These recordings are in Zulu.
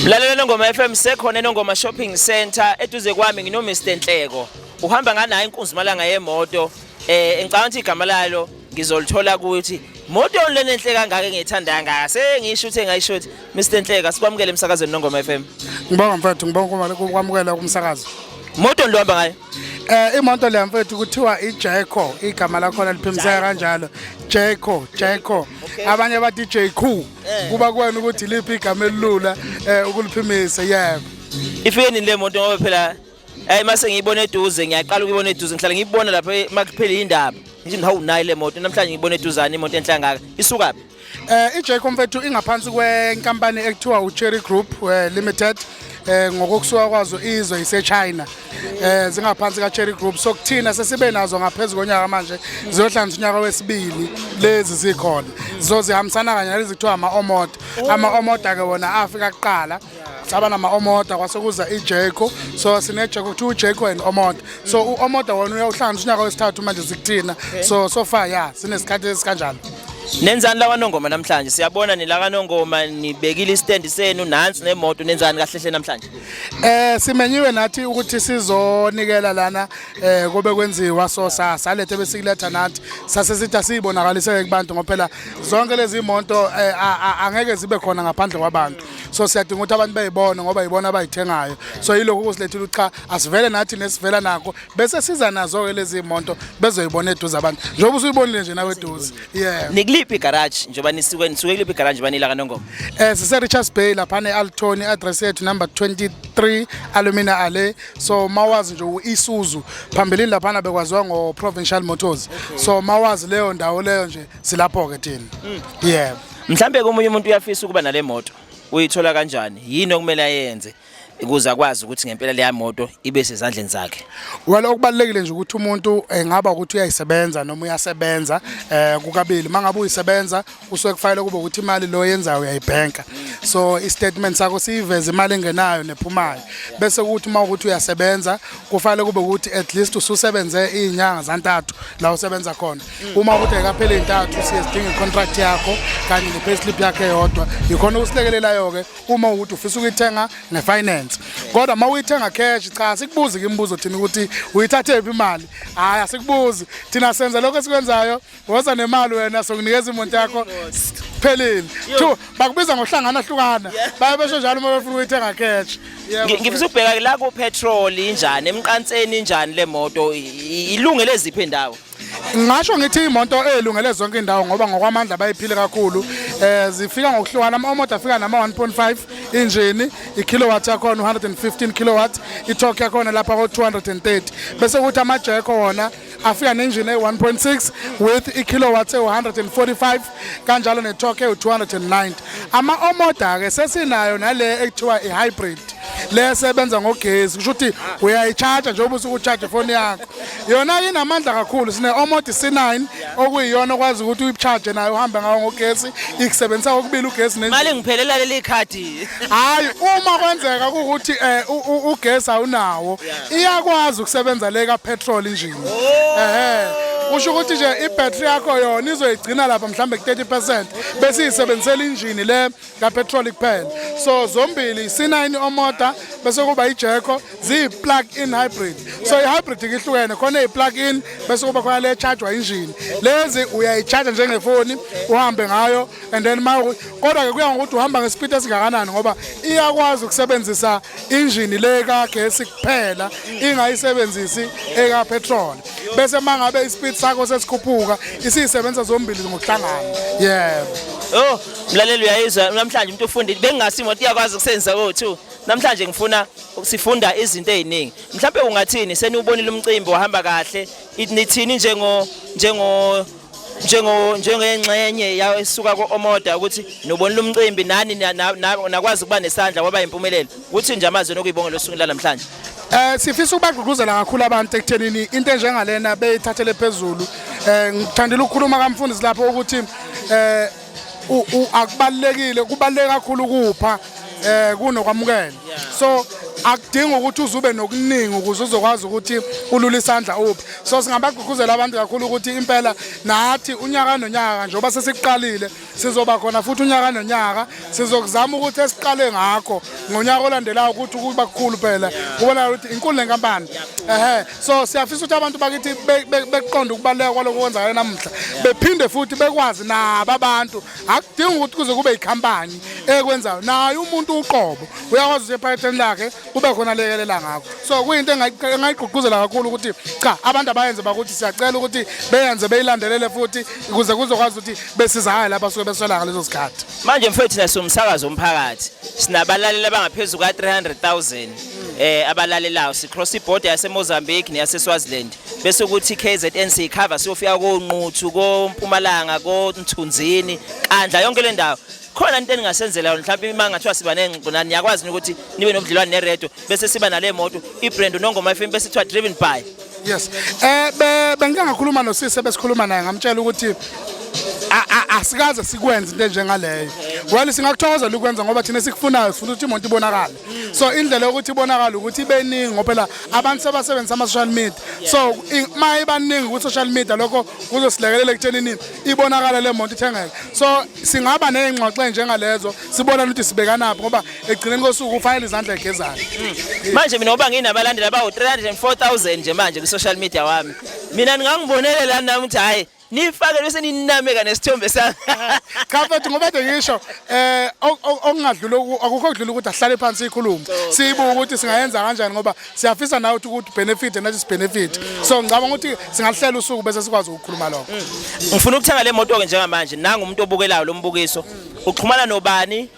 Lalela Nongoma FM sekhona eNongoma Shopping Center eduze kwami ngino Mr Nhleko. Uhamba nganayo inkunzi malanga yemoto eh engicabanga ukuthi igama lalo ngizolithola ukuthi moto lena enhle kangaka engiyithanda kangaka sengisho ukuthi engayisho ukuthi Mr Nhleka sikwamukele emsakazweni Nongoma FM. Ngibonga mfethu ngibonga ukwamukela kumsakazo. Moto ndohamba ngayo. Eh imoto le mfethu kuthiwa iJaco igama lakhona liphimseka kanjalo Jaco Jaco abanye bathi Jaco eh. kuba kwena ukuthi liphi igama elilula eh ukuliphimisa yebo Ifike nini le moto ngoba phela eh mase ngiyibona eduze ngiyaqala ukuyibona eduze ngihlala ngiyibona lapha makuphela indaba ngithi hawu nayi le moto namhlanje ngiyibona eduzane imoto enhlangaka isukaphi Eh iJacob mfethu ingaphansi kwenkampani ekuthiwa uCherry Group eh, Limited eh ngokusuka kwazo izwe iseChina eh zingaphansi kaCherry Group so kuthina sesibe nazo ngaphezulu konyaka manje ziyohlanganisa unyaka wesibili lezi zikhona zizozihambisana kanye nalezi kuthiwa ama-omod ama-omod ake wona afika kuqala saba nama-omoda kwase kuza ijeko so sinejeko kuthiwa ujeko and omoda so u-omoda wona uyawuhlanganisa unyaka wesithathu manje sikuthina so so far ya sinesikhathi esikanjalo nenzani lawanongoma namhlanje siyabona nilakanongoma nibekile istand senu nansi nemoto nenzani kahle hle namhlanje eh simenyiwe nathi ukuthi sizonikela lana eh kube kwenziwa so salethe besikuletha nathi sase sithi asiyibonakalise kubantu ngoba phela zonke lezi monto eh, angeke zibe khona ngaphandle kwabantu so siyadinga ukuthi abantu bayibone ngoba yibona abayithengayo so yilokhu kusilethile ukuthi cha asivele nathi nesivela nakho bese siza nazo-ke lezi monto bezoyibona eduze abantu njengoba usuyibonile nje nawe eduze yeah nikuliphi igaraji njengoba nisuke nisuke kuliphi igaraji njengoba nila kanongoma eh sise Richards Bay lapha ne Altoni address yethu number 23 Alumina Alley so mawazi nje uIsuzu phambilini lapha bekwaziwa ngo Provincial Motors so mawazi leyo ndawo leyo nje silapho ke thina mm. yebo mhlambe komunye umuntu uyafisa ukuba nale moto uyithola kanjani yini okumele ayenze ukuze akwazi ukuthi ngempela leya moto ibe sezandleni zakhe well okubalekile nje ukuthi umuntu engaba eh, ukuthi uyayisebenza noma uyasebenza eh kukabili mangabe uyisebenza usuke kufanele kube ukuthi imali lo yenzayo uyayibhenka so istatement sakho siyiveza imali engenayo nephumayo bese ukuthi uma ukuthi uyasebenza kufanele kube ukuthi at least ususebenze izinyanga zantathu la usebenza khona uma ukuthi ayikapheli intathu siye sidinga icontract yakho kanye nepayslip yakhe yodwa yikhona ukusilekelelayo-ke uma ukuthi ufisa ukuyithenga ngefinance kodwa uma uyithenga cash cha sikubuzi ke imibuzo thina ukuthi uyithathephi imali hhayi asikubuzi thina senza lokho esikwenzayo woza nemali wena sokunikeza imoto yakho phelile two bakubiza ngohlangana hlukana baye besho njalo uma befuna ukuyithenga cash ngifisa ukubheka la ku petrol injani emqanseni injani le moto ilungele ziphi indawo Ngasho ngithi imoto elungele zonke indawo ngoba ngokwamandla bayiphile kakhulu eh zifika ngokuhlukana ama-omoto afika nama-1.5 injini i-kilowatt yakhona u-115 kilowatt i-torque yakhona lapha ko-230 bese kuthi amajeko wona afika nenjini eyi-1.6 with i-kilowatt ewu-145 kanjalo ne-torque ewu-290 ama-omoda-ke sesinayo nale ekuthiwa i-hybrid le esebenza ngogesi kusho ukuthi uyayi-charge njengoba usuke u-charge ifoni yakho yona-ke inamandla kakhulu sine-omodi c9 okuyiyona okwazi ukuthi uyi-charge nayo uhambe ngawo ngogesi ikusebenzisa kokubili ugesi mali ngiphelela leli khadi hayi uma kwenzeka ukuthi eh, ugesi awunawo iyakwazi ukusebenza le ka petrol injini oh. ehe usho ukuthi nje ibattery yakho yona izoyigcina lapha mhlambe ku 30% bese isebenzisela injini le ka petrol kuphela so zombili C9 omoda bese kuba ijeko zi plug in hybrid so i hybrid ihlukene khona i plug in bese kuba khona le charge wa injini lezi uyayicharge njengefoni uhambe ngayo and then ma kodwa-ke kuya ngokuthi uhamba ngesipidi esingakanani ngoba iyakwazi ukusebenzisa injini le kagesi kuphela ingayisebenzisi ekapetrol bese uma ngabe isipidi sakho sesikhuphuka isiyisebenzisa zombili ngokuhlangana yebo oh mlaleli uyayizwa namhlanje umuntu ufundile bengingasi imoto iyakwazi ukusebenzisa ko-two namhlanje ngifuna sifunda izinto eziningi mhlawumbe ungathini seniwubonile umcimbi wahamba kahle nithini njengo njengo njengo njengengxenye yawo esuka ko-omoda ukuthi nobonile umcimbi nani nakwazi ukuba nesandla kwaba impumelelo kuthi nje amazwi nokuyibongela osukwini lanamhlanje Eh sifisa ukubagqugquzela kakhulu abantu ekuthenini into enjengalena beyithathele phezulu. Eh ngithandile ukukhuluma kamfundisi lapho ukuthi eh akubalekile kubaleke kakhulu ukupha eh kunokwamukela so akudingi ukuthi uzube nokuningi ukuze uzokwazi ukuthi ulule isandla uphi so singabagqugquzela abantu kakhulu ukuthi impela nathi unyaka nonyaka njengoba sesiqalile sizoba khona futhi unyaka nonyaka sizokuzama ukuthi esiqale ngakho ngonyaka olandelayo ukuthi kuba kukhulu phela kubonakala ukuthi inkulu lenkampani ehe so siyafisa ukuthi abantu bakithi beqonde ukubaluleka kwaloko kwenzakala namuhla bephinde futhi bekwazi nabo abantu akudingi ukuthi kuze kube yikhampani ekwenzayo naye umuntu uqobo uyakwazi ukuthi ephaketheni lakhe kube khona lekelela ngakho so kuyinto engayigqugquzela kakhulu ukuthi cha abantu abayenze bakuthi siyacela ukuthi beyenze beyilandelele futhi ukuze kuzokwazi ukuthi besizakale lapha suke beswela ngalezo sikhathi manje mfethu nasomsakazo omphakathi sinabalaleli abangaphezu ka-300 000 eh abalalelayo sicross ibhoda yaseMozambique neyaseSwaziland bese ukuthi KZN siyikhava siyofika konquthu kompumalanga konthunzini kandla yonke le ndawo khona into eningasenzela yona mhlawumbe imanga ngathiwa siba nengqona niyakwazi ukuthi nibe nobudlelwane neredo bese siba nale moto ibrand unongoma FM bese kuthiwa driven by yes eh bengike ngakhuluma nosisi besikhuluma naye ngamtshela ukuthi asikaze sikwenze into enjengaleyo well singakuthokozela ukwenza ngoba thina sikufunayo sifuna ukuthi imonto ibonakale so indlela yokuthi ibonakala ukuthi ibeningi ngoba phela abantu sebasebenzisa ama-social media so uma ibaningi kwi-social media lokho kuzosilekelela ekuthenini ibonakala le monto ithengeke so singaba ney'ngxoxo ey'njengalezo sibonane ukuthi sibekanaphi ngoba ekugcineni kosuku kufanele izandla egezane hmm. manje mina ngoba nginabalandeli abawu-304 000 nje manje kwi-social media wami mina ndingangibonelela nami ukuthi hhayi nifake bese ninameka nesithombe sami cha mfethu ngoba ke ngisho eh okungadlula akukho okudlula ukuthi ahlale phansi ikhulume siyibuka ukuthi singayenza kanjani ngoba siyafisa nawe ukuthi ukuthi benefit nathi sibenefit mm. so ngicabanga ukuthi singahlela usuku bese sikwazi ukukhuluma lokho mm. ngifuna ukuthenga le moto ke njengamanje nangu umuntu obukelayo lombukiso mm. uxhumana nobani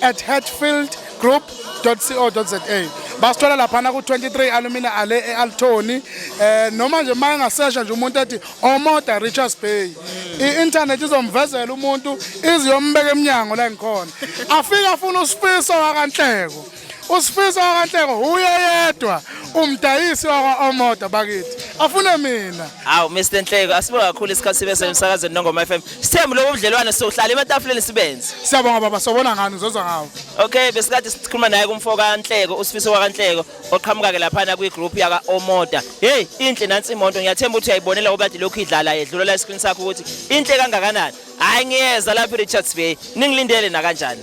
at hatfieldgroup.co.za basithola laphana ku-23 alumina ale e-altoni um eh, noma nje uma engasesha nje umuntu ethi omoda richards bay i-intanethi izomvezela umuntu iziyombeka emnyango la ngikhona afike afuna usifiso wakanhleko usifiso wakanhleko huye yedwa umdayisi wakwa-omoda bakithi afune mina hawu mr nhleko asibuka kakhulu isikhathi sibe semsakazweni nongoma f m Sithembu lobo budlelwane sohlala ematafuleni sibenze. Siyabonga baba sobona ngani uzozwa ngawo. Okay besikade sikhuluma naye kumfo kaNhleko usifiso wakaNhleko oqhamuka ke laphana kwi group yaka Omoda. Hey inhle nansi imoto ngiyathemba ukuthi uyayibonela ngoba kade lokhu idlala yedlula la screen sakho ukuthi inhle kangakanani. Hayi ngiyeza lapha eRichards Bay ningilindele nakanjani.